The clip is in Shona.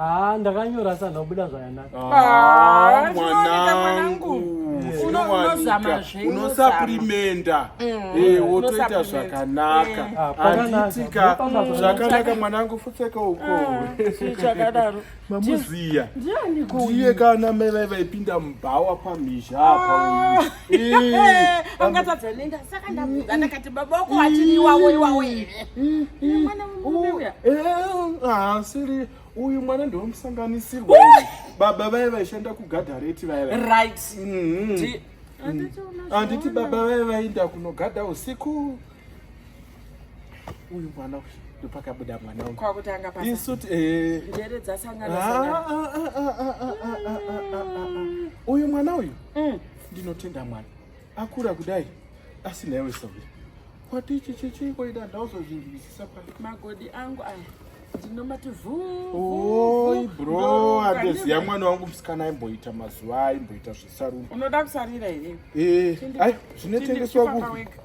Ah, ndakanyora sana kubuda zvakanaka. Ah, ah mwanangu. Unosaprimenda. Mm. Eh, wotoita zvakanaka. Ah, Anditika zvakanaka mwanangu futseka uko. Ah, Chakadaro. Mamuziya. Ndiye kana mai vaipinda mubhawa pamhizha apa uyu. angatadza nenda saka ndabuda ndakati baba uko atiri iwawo iwawo here mwana uya asiri uyu mwana ndomusanganisirwa baba vaye vaishanda kugadhareti vaya right handiti baba vaye vainda kunogadha usiku uyu mwana uyu ndopakabuda mwana uyu kwakutanga pa isuti eh njere dzasangana sangana uyu mwana uyu mm. ndinotenda mwana akura kudai asina iwe sauri kwati ichi chichiko ida ndauzozvinzwisisa pa magodi angu aya ndinomati vuoi bro andoziva mwana wangu musikana aimboita mazuva aimboita zvesaruni unoda kusarira here eh, zvinotengeswa kupi